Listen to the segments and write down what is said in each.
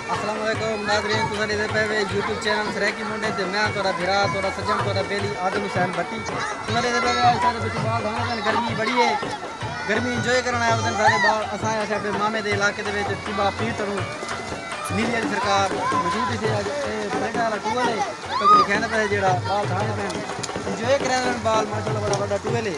السلام علیکم ناظرین تو ساڈے دے پہوے یوٹیوب چینل سریکی منڈے تے میں تہاڈا بھرا تہاڈا سجن تہاڈا بیلی آدم حسین بھٹی تو ساڈے دے پہوے اج سارے بچے بال دھانا کن گرمی بڑی ہے گرمی انجوائے کرن آیا ودن سارے بال اساں آیا سارے مامے دے علاقے دے وچ تیبا پیر ترو نیلی علی سرکار موجود تھی اج اے بریڈ والا ٹول ہے تو کوئی کہنا پہ جیڑا بال دھانا کن انجوائے کرن بال ماشاءاللہ بڑا بڑا ٹول ہے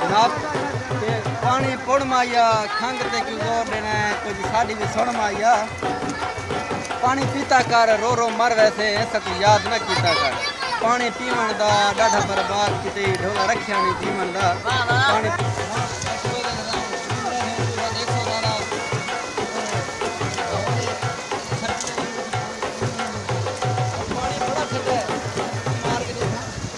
جناب تے پانی پڑ مایا کھنگ تے کیوں زور دینا ہے کچھ ساڈی بھی سن مایا پانی پیتا کر رو رو مر ویسے سک یاد نہ کیتا کر پانی پیون دا ڈاڈا برباد کیتے ڈھولا رکھیا نہیں پیون دا پانی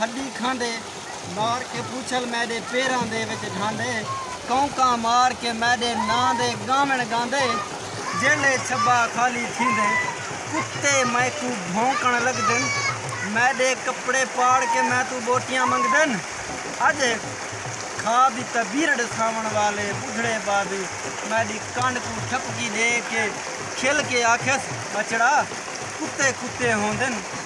ہݙی کھاندے مار کے پوچھل میݙے پیراں دے وچ ڈھاندے کونکاں مار کے میݙے ناں دے ڳاوݨ ڳاندے جیلھے چھٻا خالی تھیندے کتے میکوں بھونکݨ لڳدن میݙے کپڑے پاڑ کے میتوں ٻوٹیاں منگدن اڄ کھا ٻی تاں ٻیہر ݙساوݨ والے ٻڈھڑے بابی میݙی کنڈ کوں ٹھپکی ݙے کے کھل کے آکھیس ٻچڑا کتے کتے ہوندن۔